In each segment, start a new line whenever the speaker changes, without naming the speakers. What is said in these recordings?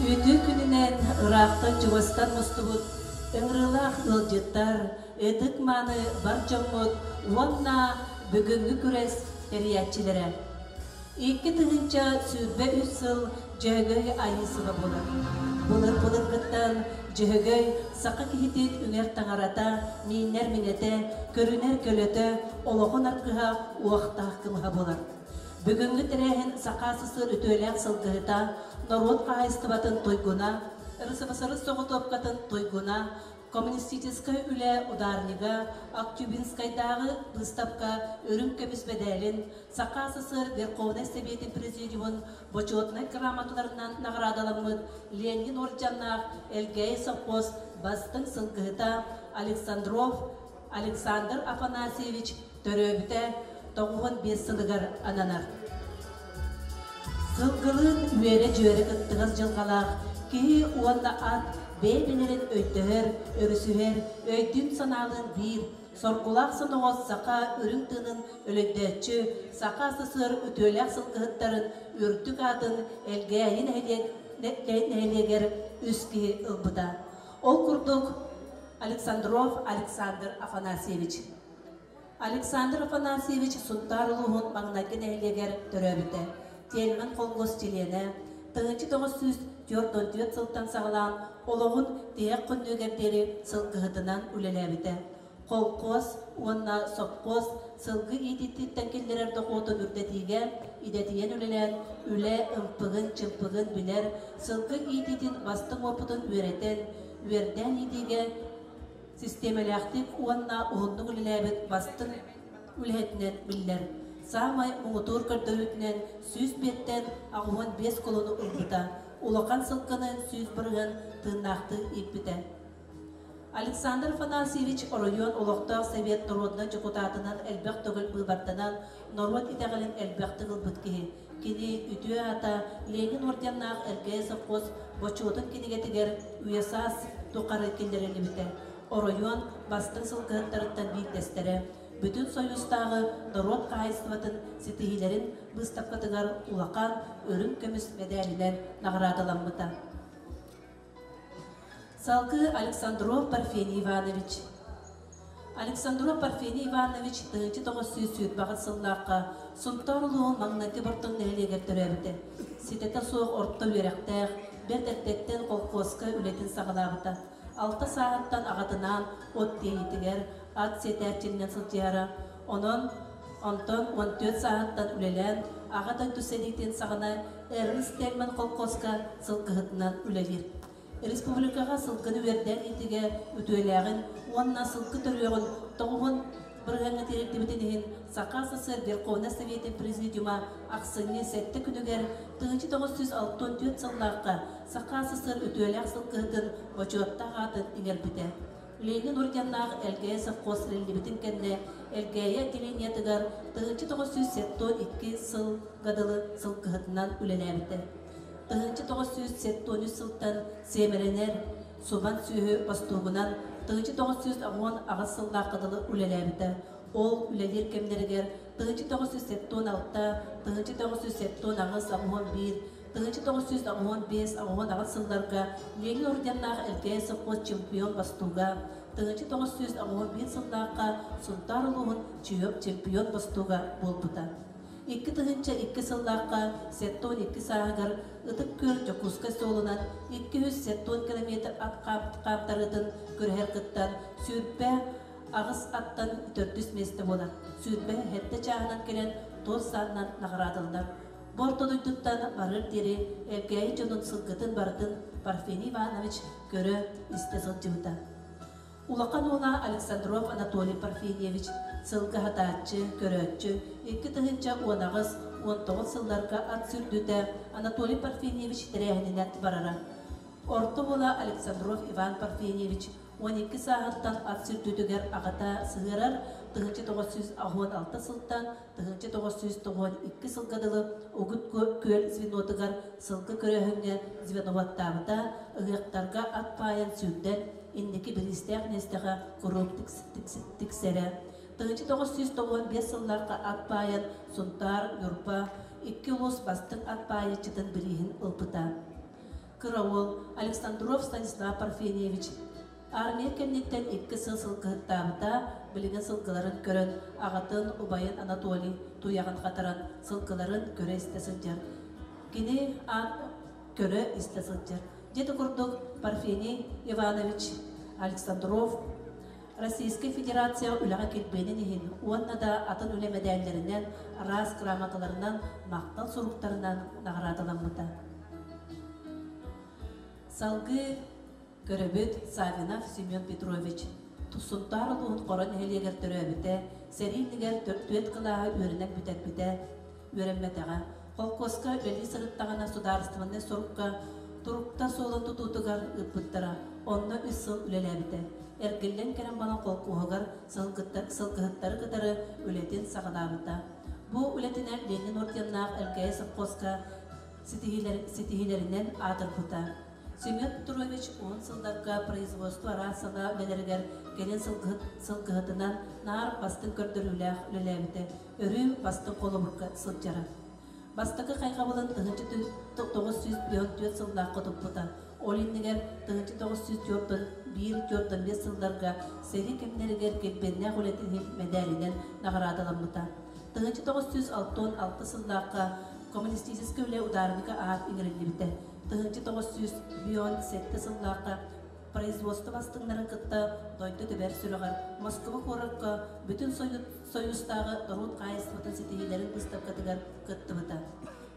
Үтүө күнүнээн ыраахтан чугастан мустубут Ыҥырыылаах ыалдьыттар, ытык-мааны бар дьоммут уонна бүгүҥҥү күрэс тэрийээччилэрэ! Икки тыһыынча сүүрбэ үс сыл Дьөһөгөй Айыы сыла буолар. Былыр-былыргыттан Дьөһөгөй саха киһитин үҥэр таҥарата, мииннэр миҥэтэ, көрүнэр көлөтө, олоҕун аргыһа, уохтаах кымыһа буолар. Бүгүҥҥү тэрээһин Саха СССР үтүөлээх сылгыһыта, норуот хаһаайыстыбатын туйгуна, РСФСР соҕотуопкатын туйгуна, коммунистическай үлэ ударнига, Актюбинскайдааҕы быыстапка үрүҥ көмүс мэдээлин, Саха СССР Верховнай Сэбиэтин Президиумун Бочуотунай грамоталарынан наҕараадаламмыт Ленин уордьаннаах Элгээйи сопхуос бастыҥ сылгыһыта Александров Александр Афанасьевич төрөөбүтэ тоҕуһун биэс сылыгар ананар. Сылгылыын үөрэ-дьүөрэ кыттыгас дьылҕалаах киһи уонна ат бэйэ-бэйэлэрин өйдөһөр, өрүсүһэр, өйдүүн-санаалыын биир, соргулаах соноҕос саха үрүҥ тыынын өлөйдөөччү, саха СССР үтүөлээх сылгыһыттарын үрдүк аатын Элгээйи нэһилиэк нэһилиэгэр үс киһи ылбыта. Ол курдук, Александров Александр Афанасьевич. Александр Афанасьевич Сунтаар улууһун маҥнайгы нэһилиэгэр төрөөбүтэ, Тельман холкуос чилиэнэ, тыһыынча көҕүс сүүс түөрт уон түөрт сылтан саҕалаан олоҕун тиһэх хоннугар диэри сылгыһытынан үлэлээбитэ, холкуос уонна сопхуос сылгы иитиититтэн киллэрэр дохуотун үрдэтиигэ идэтийэн үлэлээн, үлэ ымпыгын-чымпыгын билэр, сылгы иитиитин бастыҥ уопутун үөрэтэн, үөрдээн иитиигэ систиэмэлээхтик уонна уһуннук үлэлээбит бастыҥ үлэһитинэн биллэр. Саамай муҥутуур көрдөрүүтүнэн сүүс биэттэн аҕуон биэс кулуну ылбыта, улахан сылгыны сүүс бырыһын тыыннаахтыы ииппитэ. Александр Афанасьевич оройуон олохтоох Совет норуодунай дьокутаатынан элбэх төгүл быыбарданан норуот итэҕэлин элбэхтик ылбыт киһи. Кини үтүө аата Ленин орденнаах Эргээй совхоз бочуотун кинигэтигэр УЕСАС тухары киллэриллибитэ. Оройуон бастыҥ сылгыһыттарыттан биирдэстэрэ. Бүтүн Союзтааҕы норуот хаһаайыстыбатын ситиһиилэрин быыстапкатыгар улахан үрүҥ көмүс мэдээлинэн наҕараадаламмыта. Салгыы Александров Парфений Иванович Александров Парфений Иванович тыһыынча тоҕус сүүс сүүрбэҕис сыллаахха Сунтаар улууһун маҥнайгы Бортун нэһилиэгэр төрөөбүтэ. Ситэтэ суох орто үөрэхтээх, бэрт эрдэттэн колхуоска үлэтин саҕалаабыта. Алта сааһыттан аҕатынаан от тиэйиитигэр, ат сэтээччинэн сылдьыһара. Онон Онтон уон түөрт сааһыттан үлэлээн Аҕа дойду сэриитин саҕана Эрнст Тельман колхуоска сылгыһытынан үлэлиир. Республикаҕа сылгыны үөрдээх иитигэ үтүөлээҕин уонна сылгы төрүөҕүн тоҕуһун бырыһаҥҥа тиэрдибитин иһин Саха СССР Совети Президиума ахсынньы сэттэ күнүгэр 1964 сыллаахха Саха СССР үтүөлээх сылгыһытын бочуоттаах аатын иҥэрбитэ. Ленин орденнаах Элгээйи совхоз эриллибитин кэннэ Элгээйи отделениетыгар тыһыынча тоҕус сүүс сэттион икки сыл дылы сыл кыһатынан үлэлээбитэ. Тыһыынча тоҕус сүүс сэттион үс сылтан сиэмэрэнэр Субан сүөһү бостуогунан тыһыынча тоҕус сүүс оҕуон аҕыс сыллаахха дылы үлэлээбитэ. Ол үлэлиир кэмнэригэр тыһыынча тоҕус сүүс сэттион алта, тыһыынча тоҕус сүүс сэттион аҕыс оҕуон биир 1995-96 сылларга Ленин орденнаах Элкээй сопхуос чемпион Бостууга, 1995 сыллаахха Сунтаар улууһун Чүөп чемпион Бостууга буолбута. Икки тыһыынча икки сыллаахха сеттон икки сааһыгар Ытык Күөл Дьокуускай суолунан икки үс сеттон километр ат хаптарыытын көрүһэр кыттан сүүрбэ аҕыс аттан төрдүс миэстэ буолар. Сүүрбэ эһэтэ чааһынан кэлэн туос саанынан наҕараадыллар. Бу орто дойдуттан барыар диэри Элгээйи дьонун сылгытын барытын Парфений Иванович көрө, истэ сылдьыбыта. Улахан уола Александров Анатолий Парфеньевич сылгы аһатааччы, көрөөччү, икки тыһыынча уон аҕыс, уон тоҕус сылларга ат сүүрдүүтэ Анатолий Парфеньевич тэрээһининэн барара. Орто уола Александров Иван Парфеньевич уон икки сааһыттан ат сүүрдүүтүгэр аҕата сыһыарар тыһыынча тоҕус сүүс аһыан алта сылтан тыһыынча тоҕус сүүс тоҕуон икки сылга дылы Угут күөл звенотыгар сылгы көрөөһүҥҥэ звеноваттаабыта, ыһыахтарга ат паайан сүүрдэн, инники бириистээх миэстэҕэ куруук тиксэрэ. Тыһыынча тоҕус сүүс тоҕуон биэс сыллаахха ат паайан Сунтаар, Ньурба икки улуус бастыҥ ат паайаччытын бирииһин ылбыта. Кыраул Александров Станислав Парфеньевич Армия кэнниттэн икки сыл сылгыһыттаабыта, билигин сылгыларын көрөн, аҕатын, убайын Анатолий туйаҕын хатаран, сылгыларын көрө-истэ сылдьар. Кини көрө-истэ сылдьар. Дьиэтэ курдук Парфений Иванович Александров Российскай Федерация үлэҕэ килбиэнин иһин уонна да атын үлэ мэдээллэринэн, араас грамоталарынан, махтал суруктарынан наҕараадаламмыта. Салгыы Көрөбүт, Савинов Семен Петрович Туссунтаар улууһун Хоро нэһилиэгэр төрөөбүтэ, сэрии иннигэр төрүт кылааһы үөрэнэн бүтэрбитэ, үөрэммэтэҕэ. Холкуоска үлэлии сырыттаҕына судаарыстыбаннай сорукка турукта суолун тутуутугар ыыппыттара. Онно үс сыл үлэлээбитэ. Эргиллэн кэлэн баран холкуоһугар сылгыһыттары кытары үлэтин саҕалаабыта. Бу үлэтинэн Ленин орденнаах Элгээйи совхозка ситиһиилэринэн аатырбыта. Семен Петрович уһун сылларга производство араас саҥа үлэлэригэр кэлин сылгыһыт сылгыһытынан наар бастыҥ көрдөрүүлээх үлэлээбитэ өрүү бастыҥ холобурга сылдьара. Бастакы хайҕабылын тыһыынча тоҕус сүүс түөрт түөрт сыллаахха туппута. Ол иннигэр тыһыынча тоҕус сүүс түөртүн биир түөртэн биэс сылларга сэрии кэмнэригэр килбиэннээх үлэтин иһин мэдээлинэн наҕараадаламмыта. Тыһыынча тоҕус сүүс алтан алта сыллаахха коммунистическай үлэ ударника аат иҥэриллибитэ. тыһыынча тоҕус сүүс бион сэттэ сыллаахта производство бастыҥнарын кытта дойду тэбэр сүрэҕэр Москуба куоракка бүтүн Союзтааҕы норуот хаһаайыстыбатын ситиһиилэрин быыстапкатыгар кыттыбыта.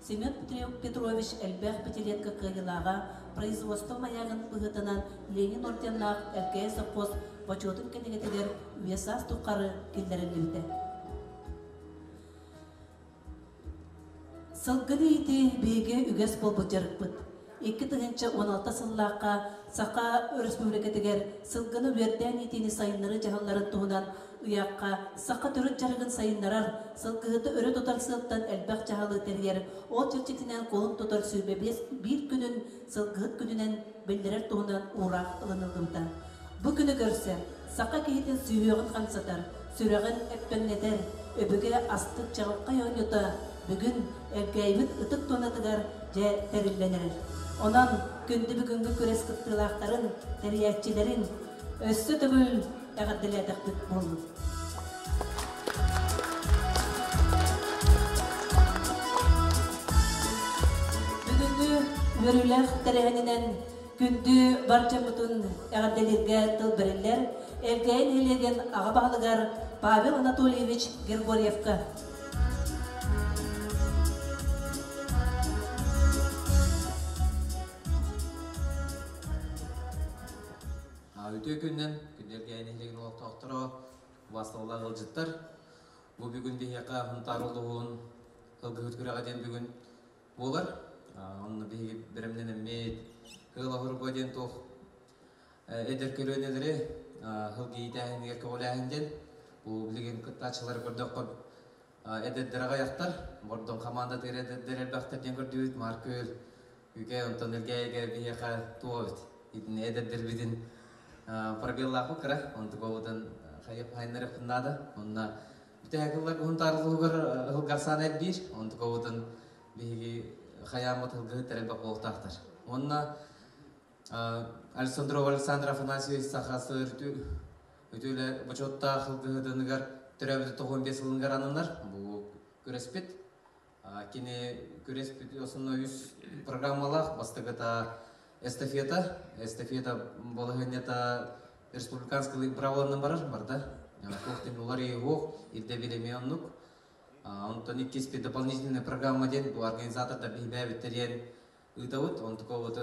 Семен Петрович элбэх пятилетка кыайыылааҕа производство маягын быһыытынан Ленин орденнаах ЛКС сопхуос бочуотун кинигэтигэр весас тухары киллэриллибитэ. Сылгыны иити биһиги үгэс буолбут дьарыкпыт. Икки тыһыынча уон алта сыллаахха Саха Өрөспүүбүлүкэтигэр сылгыны үөрдээн иитиини сайыннарыы дьаһалларын туһунан ыйаахха саха төрүт дьарыгын сайыннарар, сылгыһыты өрө тутар сыалтан элбэх дьаһалы тэрийэр ол чэрчитинэн куолун тутар сүүмэ биир күнүн сылгыһыт күнүнэн биллэрэр туһунан уураах ылыныллыбыта. Бу күнү көрсө саха киһитин сүһүөҕүн хамсатар, сүрэҕин эппэҥнэтэр, өбүгэ астык чаҕылхай оонньуута бүгүн Элгээйибит ытык туонатыгар дьэ тэриллэн эрэр. Онон күндү бүгүҥҥү күрэс кыттыылаахтарын, тэрийээччилэрин, Өссө төгүл эҕэрдэлээтэхпит буоллун. Бүгүҥҥү үөрүүлээх тэрээһининэн күндү бар дьоммутун эҕэрдэлииргэ тыл бэриллэр Элгээйи нэһилиэгин аҕа баһылыгар Павел Анатольевич Григорьевка
Үтүө күнүнэн күндүлэргээн иһилигин олохтоохторо, убастыллар ыалдьыттар. Бу бүгүн биһиэхэ Хунтаар улууһун Ылгыһыт күрэҕэ диэн бүгүн буолар. Онно биһиги бэрэмнэн эммит Хыалаһурба диэн туох эдэр көрүөнэлэри Хылгиитээһинигэр көҕүлээһин диэн бу билигин кыттааччылары көрдөххө эдэрдэр аҕай ахтар, бордон командатыыр эдэрдэр элбэхтэр диэн көрдүбүт, Маркөл Үгүй онтон эргээйигэр биһиэхэ туох эбит итини эдэрдэрбитин пробеллаахпы кыра онтук буолбутун хайыннарыахпын наада онно бүтээки ыллар уһун таарылыһыгар ыһылгарсаан эрбиир онтук буолбутун биһиги хайааммыт ыһылгыһыттар элбэх буолуохтаахтар уонна Александрова Александр Афанасьевич саха сыр үтүөлэ бочуоттаах ылгыһытыныгар төрөөбүтэ тоҕуон биэс сылыгар ананар бу күрэспит Кини күрэспит основной үс программалаах бастагыта эстафета эстафета балаһыанньата республиканскай бравонунан барар барда туох да улар иеһуох ирде билеми оннук онтон иккиспит дополнительная программа диэн бу организатордар биһибээбиттериэн ыытабыт он такого вот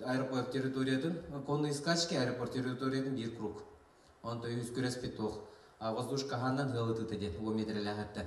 аэропорт территориятын конные скачки аэропорт территориятын биир круг онто үһүс күрэспит туох воздуш хаһаанан ыалытыыта диэн уо метрэлээхэттэн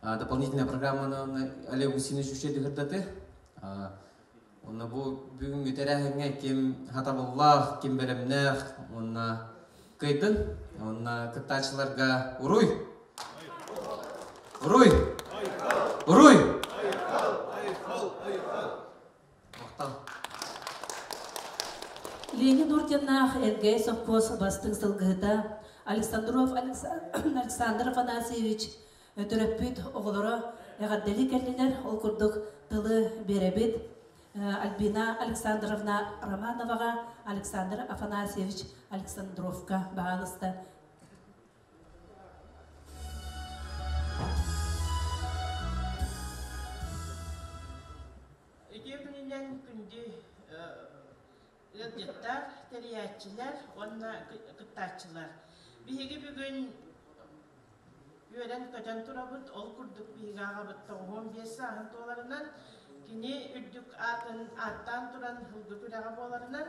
дополнительная программаны Олегу Синису дыгырдаты Онна бу бүгүнгү тэрээһиҥҥэ ким хатабыллаах, ким бэлэмнээх уонна кыйдын. Онна кыттааччыларга уруй! Уруй! Уруй!
Леня Нурдиннаах Эргэй сопхуос бастыҥ сылгыһыта Александров Александр Афанасьевич төрөппүт оҕолоро эҕэрдэлии кэллилэр. Ол курдук тылы биэрэбит. Альбина Александровна Романоваҕа, Александр Афанасьевич Александровка баҕаласта
Итии күнүнэн күндү ыалдьыттар, тэрийээччилэр уонна кыттааччылар. Биһиги бүгүн үөрэн-көтөн турабыт, ол курдук биһиги аҕабыт тоҕуһуон биэс сааһын туоларынан, кини үрдүк аатын ааттаан туран ылбыт үрэҕэ буоларынан,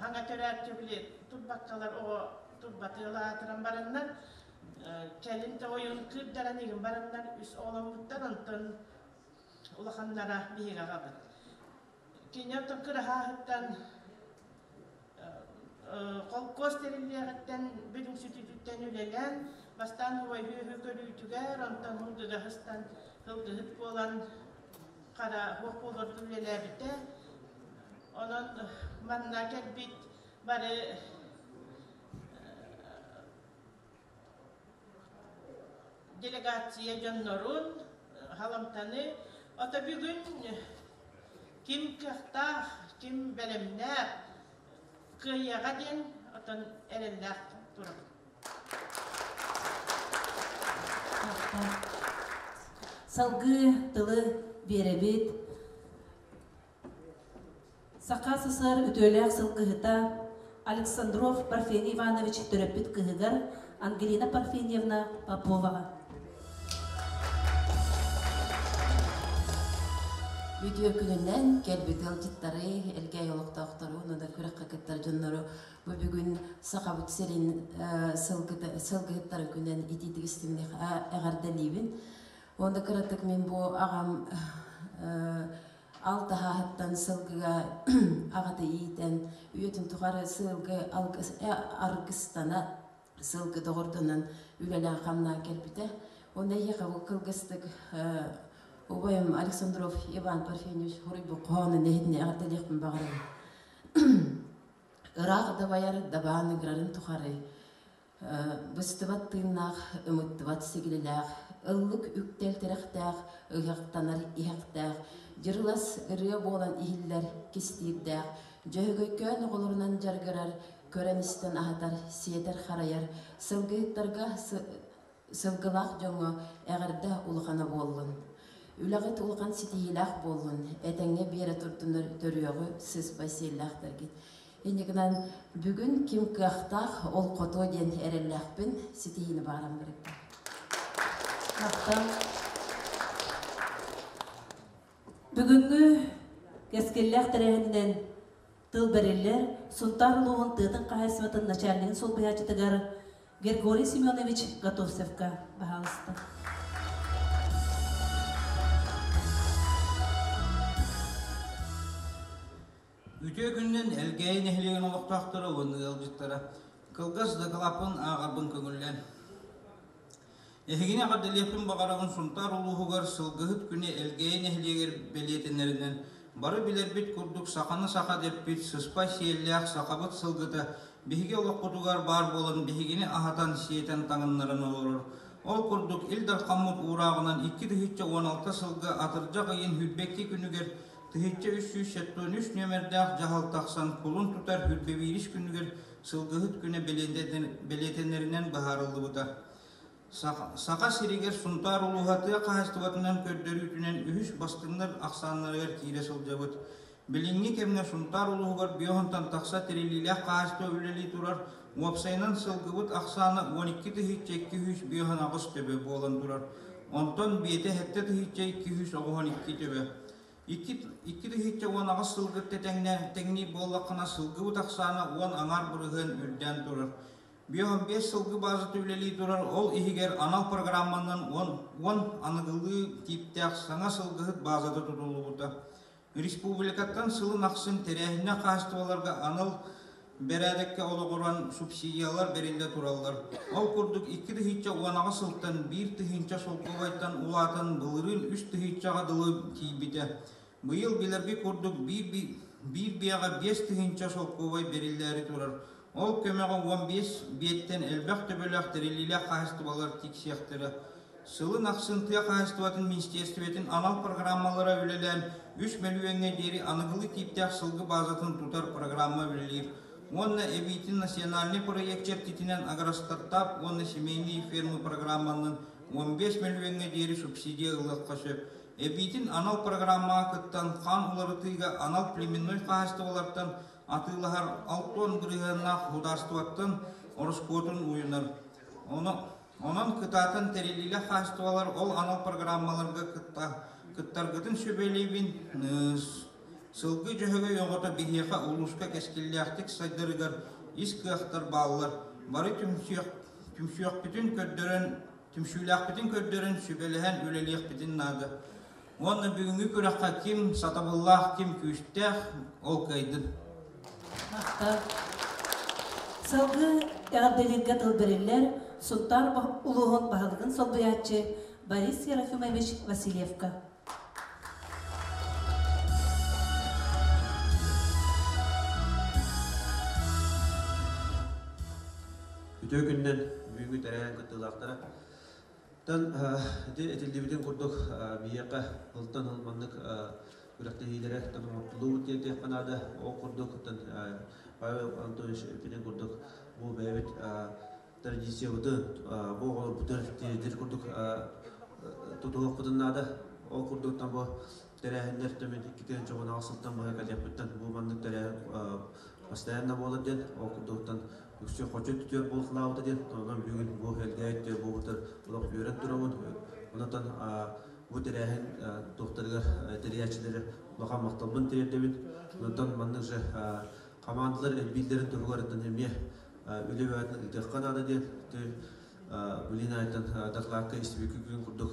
хаҥа төрөт били турбаккалар оҕо турбатыылаатыран бараннар кэлин тойон кыырдаран игин бараннар үс оҕоломмуттан онтон улаханнара биһиги ағабыт кини оттон кыраһаахыттан холкуос тэриллиэҕиттэн бүрүҥсүтүтүттэн үлэлээн бастаан убайдыыһы көрүүтүгэр онтон һылдыһыстан һылдыһыт буолан хара боппуулордун үлэлээбитэ. Онон манна кэлбит бары делегация дьоннорун халамтаны ото бүгүн ким кыахтаах, ким бэлэмнээх кыайыаҕа диэн отон эрэллээх турам.
Салгыы тылы биэрэбит. Саха СССР үтүөлээх сылгыһыта Александров Парфений Иванович төрөппүт кыһыгар Ангелина Парфеньевна Поповаҕа.
Үтүө күнүнэн кэлбит ыалдьыттары, элгээй олохтоохтору, уонна да күрэххэ кыттар дьоннору Бу бүгүн Сахабыт сирин сылгыһыттарын күнүн итиитик истиҥник эҕэрдэлиибин. Онда кыратык мин бу аҕам алтаһаһыттан сылгыга аҕаты иитэн үйэтин тухары сылгы аргыстана сылгы доҕордонон үлэлээх хамнаан кэлбитэ. Онна ийэхэ бу кылгыстык убайым Александров Иван Парфеньевич хоруйбу хоһоонун эһитине эҕэрдэлиэхпин баҕарабын. Ыраах дабайар дабааныгырарын тухары быстыбат тыыннаах, ымыттыбат сигилилээх, ыллык үктэл тирэхтээх, ыһыахтанар иһэхтээх, дьырылас ырыа буолан иһиллэр кистиирдээх, дьөһөгөйкөөн оҕолорунан дьарыгырар, көрөн-истэн аһатар, сиэтэр-харайар, сылгыһыттарга Сылгылаах дьоҥҥо эҕэрдэ улахана буоллун! Үлэҕит улахан ситиһиилээх буоллун, этэҥҥэ биэрэ турдунар төрүөҕү сыспай сиэллээхтэргит. Инникинэн бүгүн ким кыахтаах, ол хотуо диэн эрэллээхпин, ситиһиини баҕаран барыттым.
Бүгүҥҥү кэскиллээх тэрээһининэн тыл бэриллэр Сунтаар улууһун тыатын хаһаайыстыбатын начальнигын солбуйааччытыгар Григорий Семенович Готовцевка баһаалыста.
Үтүө күннэн Элгээйи нэһилиэгин олохтоохторо уонна ыалдьыттара кылгас дакылаппын ааҕарбын көҥүллэн Эһигини эҕэрдэлиэхпин баҕарабын Сунтаар улууһугар Сылгыһыт күнэ Элгээйи нэһилиэгэр бэлиэтэнэринэн, бары билэрбит курдук саханы саха дэппит сыспай сиэллээх сахабыт сылгыта биһиги олохпутугар баар буолан биһигини аһатан, сиэтэн таҥыннаран олорор. Ол курдук Ил Дархаммыт уурааҕынан икки тыһыынча уон алта сылга атырдьах ыйын Хүрбэкти күнүгэр тыһыынча үс сүүс сэттиэн үс нүөмэрдээх дьаһал тахсан кулун тутар Хүрбэбиирис күнүгэр Сылгыһыт күнэ бэлиэтэнэринэн быһаарыллыбыта. Саха сиригэр Сунтаар улууһа тыа хаһаайыстыбатынан көрдөрүүтүнэн үһүс бастыҥнар ахсааннарыгар киирэ сылдьабыт. Билиҥҥи кэмҥэ Сунтаар улууһугар биоһунтан тахса тэриллиилээх хаһаайыстыба үлэлии турар, уопсайынан сылгыбыт ахсаана уон икки тыһыынча икки үс биоһун аҕыс төбө буолан турар. Онтон биэтэ сэттэ тыһыынча икки үс оҕуһун икки төбө. Икки, икки тыһыычча уон аҕыс сылгыт тэтэҥнэ, тэҥниир буоллаххына, сылгыбыт ахсаана уон аҥаар бырыһыан үрдээн турар. Бүөх биэс сылгы баазата үлэлии турар, ол иһигэр анал программанан уон, уон аныгылыы тииптээх саҥа сылгыһыт баазата тутуллубута. Республикаттан сылын ахсын тэрээһиннэр хаһаайыстыбаларга анал Бэрээдэккэ олоҕуран субсидиялар бэриллэ тураллар. Ол курдук икки тыһыынча уон аҕа сылтан биир тыһыынча солкуобайтан улаатан былырыын үс тыһыынчаҕа дылы тиийбитэ. Быйыл билэрбит курдук биир биэҕэ биэс тыһыынча солкуобай бэриллээри турар. Ол көмөҕө уон биэс биэттэн элбэх төбөлөөх тэриллиилээх хаһаайыстыбалар тиксиэхтэрэ. Сылын ахсын тыа хаһаайыстыбатын министиэристибэтин анал программалара үлэлээн, үс мөлүйүөҥҥэ диэри аныгылыы тииптээх сылгы баазатын тутар программа үлэлиир уонна эбиитин национальнай проект чэрчитинэн Агростартап уонна семейные фермы программаннан уон биэс мөлүйүөҥҥэ диэри субсидия ылыахха сөп. Эбиитин анал программаҕа кыттан, хаан уларытыыга анал племенной хаһаайыстыбалартан атыылаһар алт уон бырыһыаннаах судаарыстыбаттан ороскуотун уйунар. Ону Онон кытаатан тэриллиилээх хаачыстыбалар ол анал программаларга кытта, кыттаргытын сүбэлиибин. Сылгы дьөһөгөй оҕото биһиэхэ улууска кэскиллээхтик сайдарыгар ис кыахтар бааллар. Бары түмсүөхпүтүн көрдөрөн, түмсүүлээхпитин көрдөрөн, сүбэлэһэн үлэлиэхпитин наада. Уонна бүгүҥҥү күрэххэ ким сатабыллаах, ким күүстээх, ол кыайдын.
Сылгы эҕэрдэлииргэ тыл бэриллэр Сунтаар улууһун баһылыгын солбуйааччы Борис Серафимович Васильевка.
Үтүө күннэн бүгүҥҥү тэрээһин кыттыылаахтара Оттон ити этиллибитин курдук биһиэхэ сылтан сыл маннык күрэхтэһиилэрэ тоҥ оҥордуллубут диэн этиэххэ наада. Ол курдук, оттон Павел Анатольевич эппитин курдук, бу бэйэбит традициябытын, бу оҕолорбутун тиэрдэр курдук тутуһуохпутун наада. Ол курдук, там бу тэрээһиннэр төбөт икки күн чобунаҕа сылтан быһа кадетпыттан бу маннык тэрээһин постоянно буолар диэн ол курдуктан үксү хочо түтүөр буолхалаабыта диэн онон бүгүн бу элгээйит түөр буолбутар олох үөрэн туругун онотон бу тэрээһин туохтарыгар тэрийээччилэри улахан махталбын тириэрдэбин онтон маннык же командалар элбииллэрин туругуттан эмиэ үлэ бэҕэтин ыытыахха наада диэн билин айттан докладка истибикки күн курдук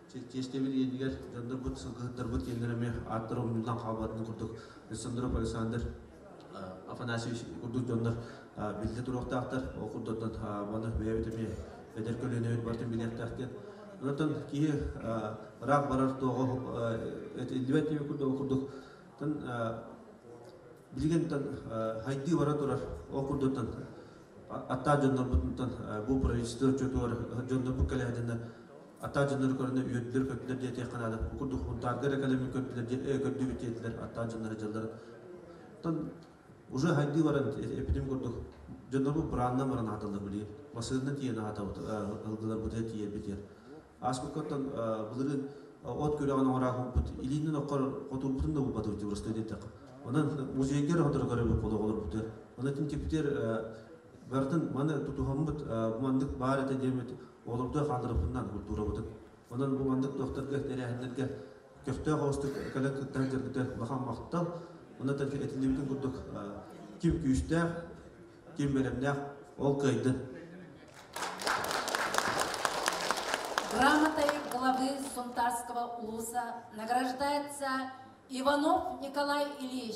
Чэчиэстэбит иэнигэр дьоннорбут, сылгыһыттарбыт киэннэрэ эмиэ ааттар умньутан хаалбатытын курдук Александров Александр Афанасьевич курдук дьоннор биллэ туруохтаахтар. Ол курдуктан маны бэйэбит эмиэ эдэр көлүөнэбит барытын билиэхтээх диэн. Онтон киһи ыраах барар туоҕа этиллибэт диэн курдук билигин хайдыы бара турар ол курдуктан аттаах дьоннорбутунтан бу правительство отчуотугар дьоннорбут кэлэһэтиннэ Аттаах дьоннору көрүнэ үөрдүлэр көрдүлэр диэтиэххэ наада. Бу курдук хурдаарга эрэ кэлэммин көрдүлэр диэн көрдүбүт диэтилэр аттаах дьоннор дьаллар. Оттон уже хайдыы баран эпидем курдук дьоннорбут бырааннан баран аһаталлар билигин. Массыынанан тиийэн аһатабыт ыһылгылар бытыйа тиийэрбитигэр. Ааспыккаттан былырыын от күрэҕин оҥороо уһуппут илиинэн оккор хотуурбутун да булбатыбыт Дьубурускай диэтэххэ. Онон музейгер оһотору көрөбүт холоҕолорбутугар. Онон тинтипитер барытын маны тутуһаммыт бу маннык баар этэ диэммит Уолумтуй Хандыровпуннан культурабытын, онон бу маннык туохтарга тэрээһиннэргэ көхтөөх оҕустук кэлэн кыттарын көрбүтэ улахан махтал. Онно этиллибитин курдук ким күүстээх, ким бэлэмнээх, ол кыайды.
Грамотой главы Сунтарского улуса награждается Иванов Николай Ильич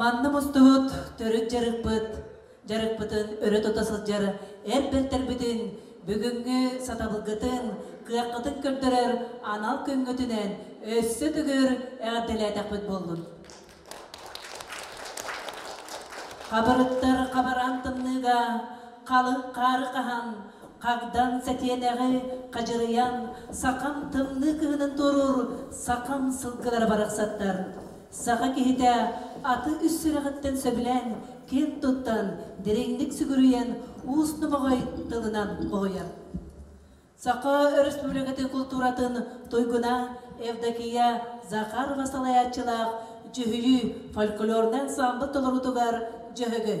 Манна мустубут төрүт дьарыкпыт дьарыкпытын өрө тута сылдьар эр бэртэрбитин, бүгүҥҥү сатабылгытын, кыаххытын көрдөрөр анал күҥҥүтүнэн өссө төгүр эҕэрдэлээтэхпит буоллун. Хабырыттар хабаран тымныыга халыҥ хаары хаһан Хагдан сэтиэнэҕи хадьырыйан, сахам тымныы кыһынын туоруур сахам сылгылара барахсаттар. Саха киһитэ аты үс сүрэҕиттэн сөбүлээн, киэн туттан, дириҥник сүгүрүйэн, уус номоҕой тылынан хоһуйар. Саха Өрөспүүбүлүкэтин култууратын туйгуна Евдокия Захарова салайааччылаах дьүһүйүү фольклорнай ансаамбыл толоруутугар Дьөһөгөй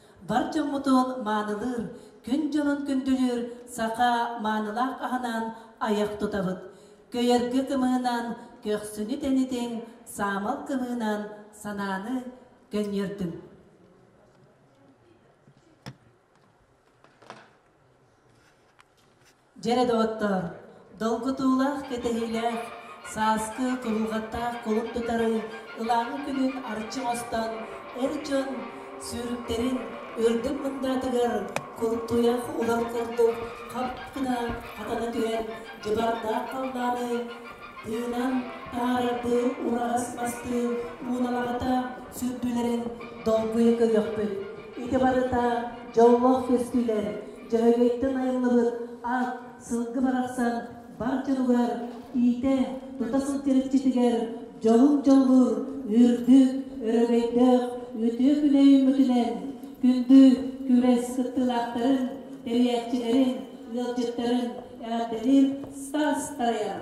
бар дьоммутун маанылыыр, күн дьонун күндүлүүр саха маанылаах аһынан айах тутабыт. Көйөргө кымыһынан көхсүнү тэнитиҥ, саамал кымыынан санааны көнньүөрдүҥ. Дьэрэ доҕоттоор, долгутуулаах, кэтэһиилээх, сааскы, куһулҕаттаах кулун тутары ылааҥы күнүн арчы оҥостон, эр дьон сүүрүктэрин үрдүк мындаатыгар култууйах улар курдук хап гына хатана түһэр дьыбардаах халлааны тыынан таһаарардыы ураҕас мастыы ууналамата сүрдүүлэрин долгуйа көрүөхпүт. Ити барыта дьоллоох көстүүлэр Дьөһөгөйтөн айыллыбыт ат сылгы барахсан бар дьонугар иитэ тута сылдьар иччитигэр дьолун дьоллуур үрдүк, өрөгөйдөөх үтүө күнэ үүммүтүнэн күндү күрэс кыттыылаахтарын, тэрийээччилэрин, ыалдьыттарын эҕэрдэлиир Стас Таяр.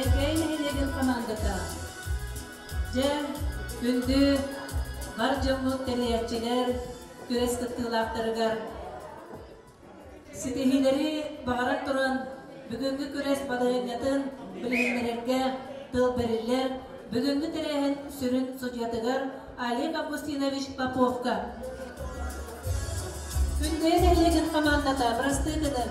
Эҥкэй нэһилиэгин хамаандата Дьэ, күндү бар дьоммут тэрийээччилэр күрэс кыттыылаахтарыгар Ситиһиилэри баҕаран туран, бүгүҥҥү күрэс балаһыанньатын билиһиннэрэргэ тыл бэриллэр. Бүгүҥҥү тэрээһин сүрүн судьуйатыгар Олег Августинович Поповка. Күндэйэ Сэрэлэһин хамаандата бырастыы гынын.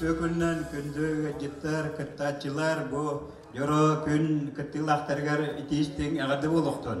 Үтүөкүннэн күндү ыалдьыттар, кыттааччылар бу дьоро күн кыттыылаахтарыгар итиистиҥ эҕэрдэ буолуохтун!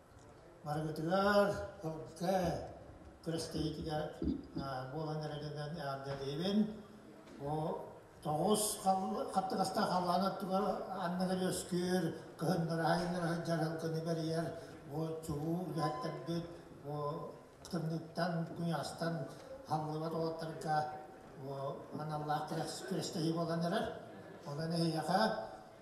Барыгытыгар ылга күрэстэһиитигэр буолан эрэринэн эҕэрдэлиибин. Бу тоҕус хаттыгастаах халлаан өттүгэр анныгар үөскүүр, кыһыннара айаннара сылдьар ылгыны бэрийэр бу чулуу үлэһиттэрбит бу кытынныттан, куньаастан халлыбат уолаттарга бу аналлаах күрэстэһии буолан эрэр. Онон эһиэхэ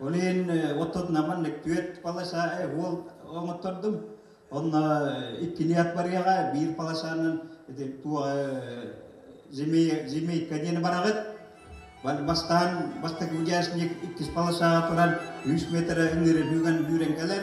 Ол иһин оттотунаман маннык түөрт палаша уол оҥоттордум. Онно иккилии ат барыаҕа, биир палашанан земейка диэн бараҕыт. Бастаан бастакы участник иккис палашаҕа туран үс метрэ ыҥыырын үгэн үүрэн кэлэр.